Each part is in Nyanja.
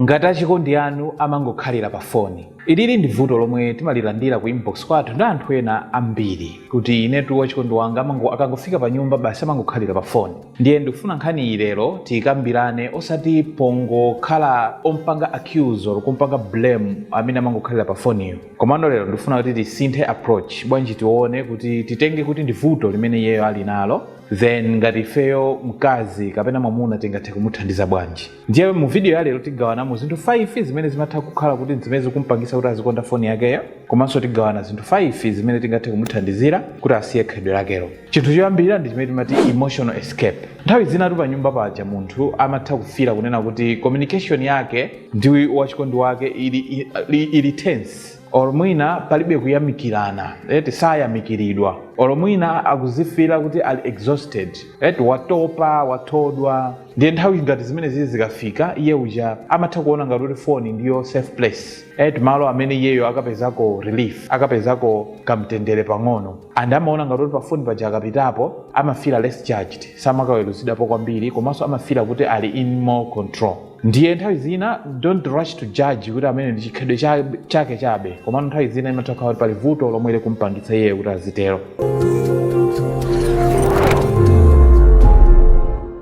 ngati achikondi anu amangokhalira pa foni. Ilili ndi vuto lomwe timalilandira ku inbox kwathu ndi anthu ena ambiri kuti inetu wachikondi wanga amango akangofika pa nyumba basi amangokhalira pa foni. Ndiye ndikufuna nkhani iyi lero tiikambirane osati pongokhala kumpanga accuse or kumpanga blame amene amangokhalira pa foniyo. Komano lero ndikufuna kuti tisinthe approach bwanji tione kuti titenge kuti ndi vuto limene iyeyo ali nalo then ngati ifeyo mkazi kapena mwamuna tingathe kumuthandiza bwanji. ndiye mu video ya lero tigawanamo zinthu 5 zimene zimatha kukhala kuti zimene zikumpangisa kuti azikonda foni yakeyo komanso tigawana zinthu 5 zimene tingathe kumuthandizira kuti asiye khalidwe lakelo chinthu choyambirira ndi chimene timati emotional escape nthawi zinatu pa nyumba paja munthu amatha kufira kunena kuti communication yake ndi wachikondi wake ili, ili, ili tense or mwina palibe kuyamikirana eti sayamikiridwa or mwina akuzifira kuti ali exhausted eti watopa wathodwa ndiye nthawi ngati zimenezi zikafika iye uja amatha kuona ngati kuti foni ndiyo safe place eti malo amene iyeyo akapezako relief akapezako kamtendere pang'ono and amaona ngati kuti pafoni paja akapitapo amafila less judged samakaweruzidwapo kwambiri komanso amafila kuti ali in more control ndiye nthawi zina don't rush to judge kuti ameneyu ndi chikhalidwe cha- chake chabe komano nthawi zina imatha kukhala kuti pali vuto lomwe likumpangitsa iyeyo kuti azitero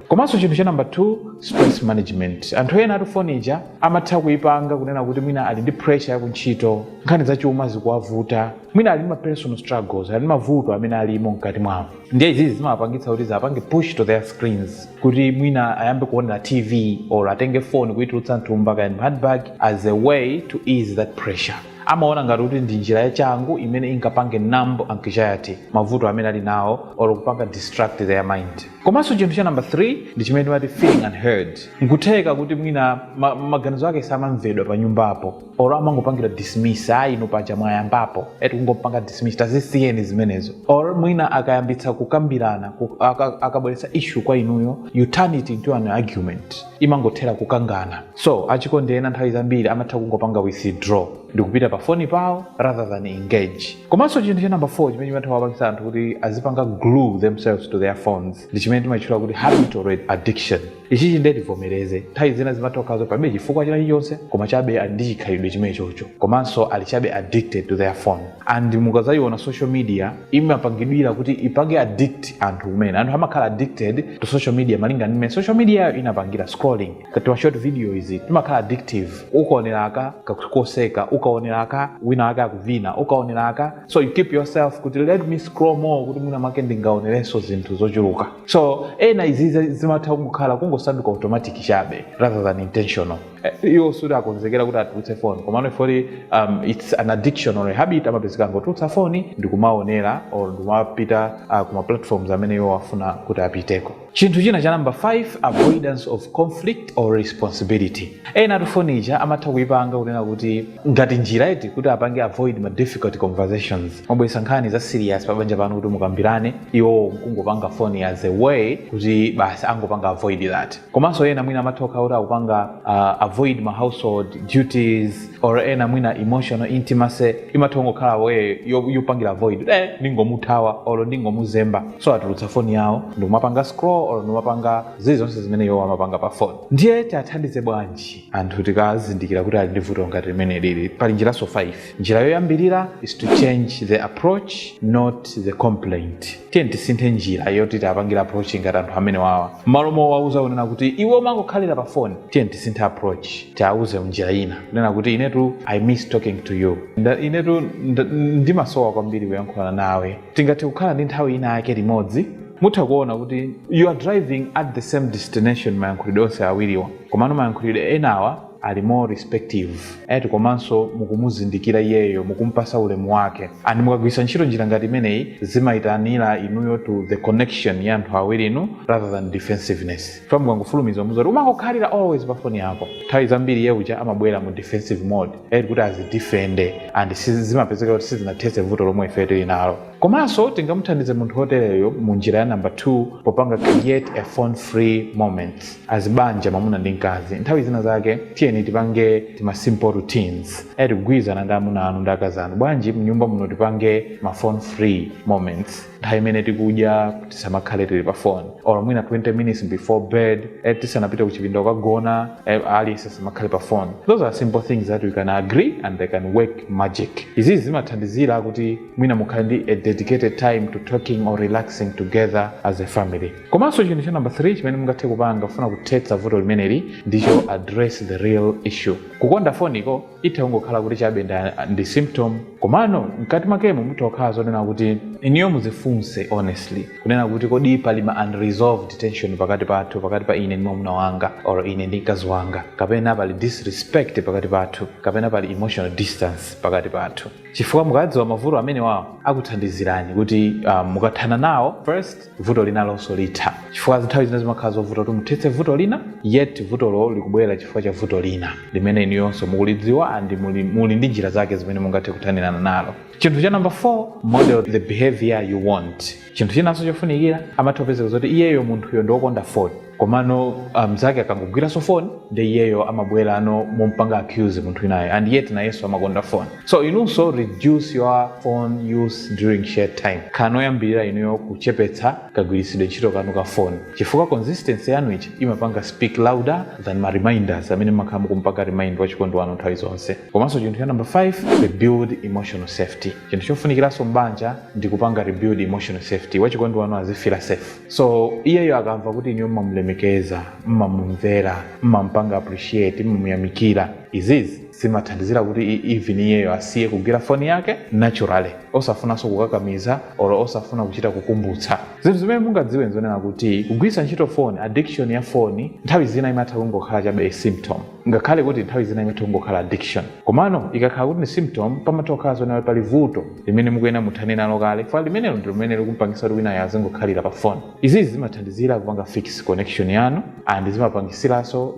komanso chinthu cha namba 2 stress management anthu enatu foni ija amatha kuipanga kunena kuti mwina ali ndi pressure ya kuntchito nkhani zachuma zikuwavuta mwina ali ndi ma personal struggles ali ndi mavuto amene alimo mkati mwawo ndiye izizi zimawapangitsa kuti ziwapange push to their screens kuti mwina ayambe kuonera tv or atenge foni kuitulutsa mthumba kaya handbag as a way to ease that pressure amaona ngati kuti ndi njira yachangu imene ingapange numb anxiety mavuto amene ali nawo or kupanga distract their mind komanso chinthu cha number 3 ndi chimene timati feeling unheard nkutheka kuti mwina ma, maganizo ake samamvedwa pa nyumbapo or amangopangidwa dismiss ayi inu paja mwayambapo eti kungopanga dismiss tazisiyeni zimenezo or mwina akayambitsa kukambirana ku- aka- akabweretsa issue kwa inuyo you turn it into an argument imangothera kukangana so achikondi ena nthawi zambiri amatha kungopanga withdraw ndikupita pa foni pawo rather than engage komanso chinthu cha number 4 chimene chimatha kuwapangitsa anthu kuti azipanga glue themselves to their phones ndi chimene timachitchula kuti habitual addiction ichichi ndiye tivomereze nthawi zina zimatha kukhala palibe chifukwa china chilichonse koma chabe ali ndi chikhalidwe chimenechocho komanso ali chabe addicted to their phone and mukadzaiona social media imapangidwira kuti ipange addict anthu mmene anthu amakhala addicted to social media malinga ndi mmene social media yo inapangira scrolling tima short video iti timakhala addictive ukaonera aka kakuseka ukaonera aka wina wake akuvina ukaonera aka so you keep yourself kuti let me scroll more kuti mwina mwake ndingaonerenso zinthu zochuluka so ena izi zimatha kungokhala kungosanduka automatic chabe rather than intentional Eh, iwo sikuti akonzekera kuti atulutse foni komano ifeyoti um, its an addiction or a habit amapezeka angotulutsa foni ndikumaonera or ndikumapita uh, kuma platforms amene iwo afuna kuti apiteko chinthu china cha namba 5 avoidance of conflict or responsibility ena atu foni ija amatha kuipanga kunena kuti ngati njira iti kuti apange avoid ma difficult conversations mwabweretsa nkhani za serious pabanja panu kuti mukambirane iwo nkungopanga foni as a way kuti basi angopanga avoid that komanso ena mwina amatha kukhala kuti akupanga uh, avoid ma household duties or ena mwina emotional intimacy imatha kungokhala way yo- yopangira avoid eh, ndingomuthawa or ndingomuzemba so atulutsa foni yawo ndikumapanga scroll or ndikumapanga zili zonse zimene iwo amapanga pa foni ndiye tiathandize bwanji anthu tikazindikira kuti ali ndi vuto ngati limene lili pali njiranso 5 njira yoyambirira is to change the approach not the complaint tiyeni tisinthe njira yoti tiapangira approach ngati anthu amene wawa m'malo mowauza kunena kuti iwe umangokhalira pa phone tiyeni tisinthe approach tiauze mnjira ina kunena kuti inetu i miss talking to you Nda, inetu nda- ndimasowa kwambiri kuyankhulana nawe tingathe kukhala ndi nthawi ina yake limodzi mutha kuona kuti you are driving at the same destination mayankhulidwe onse awiriwa komano mayankhulidwe enawa ali more respective eti komanso mukumuzindikira iyeyo mukumpasa ulemu wake and mukagwiritsa ntchito njira ngati imeneyi zimayitanira inuyo to the connection ya anthu awirinu rather than defensiveness chifukwa mukangofulumiza kumuuza kuti umangokhalira always pa foni yako nthawi zambiri iye uja amabwera mu defensive mode eti kuti azidifende and sizi- zimapezeka kuti sizinathetse vuto lomwe ife tili nalo komanso tingamuthandize munthu wotereyo mu njira ya number 2 popanga create a phone free moment as banja mwamuna ndi mkazi nthawi zina zake tiyeni tipange tima simple routines eti kugwirizana ndi amuna anu ndi akazi anu bwanji mnyumba muno tipange ma phone free moments nthawi imene tikudya tisamakhale tili pa phone or mwina 20 minutes before bed eti tisanapite kuchipinda kukagona eh, aliyense asamakhale pa phone those are simple things that we can agree and they can work magic izi zimathandizira kuti mwina mukhale ndi a dedicated time to talking or relaxing together as a family komanso chinthu cha namba 3 chimene mungathe kupanga kufuna kuthetsa vuto limeneli ndicho address the real issue kukonda foniko itha kungokhala kuti chabe nda- ndi symptom komano mkati mwakemo mutha kukhala zonena kuti inuyo muzifunse honestly kunena kuti kodi pali ma unresolved tension pakati pathu pakati pa ine ndi mwamuna wanga or ine ndi mkazi wanga kapena pali disrespect pakati pathu kapena pali emotional distance pakati pathu chifukwa mukawadziwa mavuto amenewa akuthandizirani kuti um, mukathana nawo first vuto linalonso litha chifukwa nthawi zina zimakhala zovuta kuti muthetse vuto lina yet vutolo likubwera chifukwa cha vuto lina limene inuyonso mukulidziwa and muli, muli ndi njira zake zimene mungathe kuthanirana nalo chinthu cha number 4 model the behavior you want chinthu chinanso chofunikira amatha kupezeka zoti iyeyo munthuyo ndi wokonda foni komano ah, mnzake akangogwiranso foni nde iyeyo amabwerano mompanga accuse munthu inayo and yet nayenso amakonda foni so inunso reduce your phone use during shared time khalani oyambirira inuyo kuchepetsa kagwiritsidwe ntchito kanu ka foni chifukwa consistency yanu ija imapanga speak louder than ma reminders amene makhala mukumpanga remind wachikondi wanu nthawi zonse komanso chinthu cha number 5 rebuild emotional safety chinthu chofunikiranso mbanja ndi kupanga rebuild emotional safety wachikondi wanu azifira safe so iyeyo akamva kuti inuyo mmamulemekeza mmamumvera mmampanga appreciate mmamuyamikira izizi zimathandizira kuti i- even iyeyo asiye kugwira foni yake naturally osafunanso kukakamiza or osafuna kuchita kukumbutsa zinthu zimene mungadziwe nzonena kuti kugwiritsa ntchito foni addiction ya foni nthawi zina imatha kungokhala chabe a symptom ngakhale kuti nthawi zina imatha kungokhala addiction komano ikakhala kuti ni symptom pamatha kukhala zonena kuti pali vuto limene mukuyena muthane nalo kale fa limenelo ndi limene likumpangisa kuti winayo azingokhalira pa foni izizi zimathandizira kupanga fix connection yanu and zimapangisiranso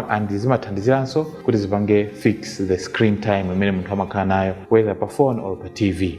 and zimathandiziranso kuti zipange fix the screen time imene munthu amakhala nayo whether pa phone or pa tv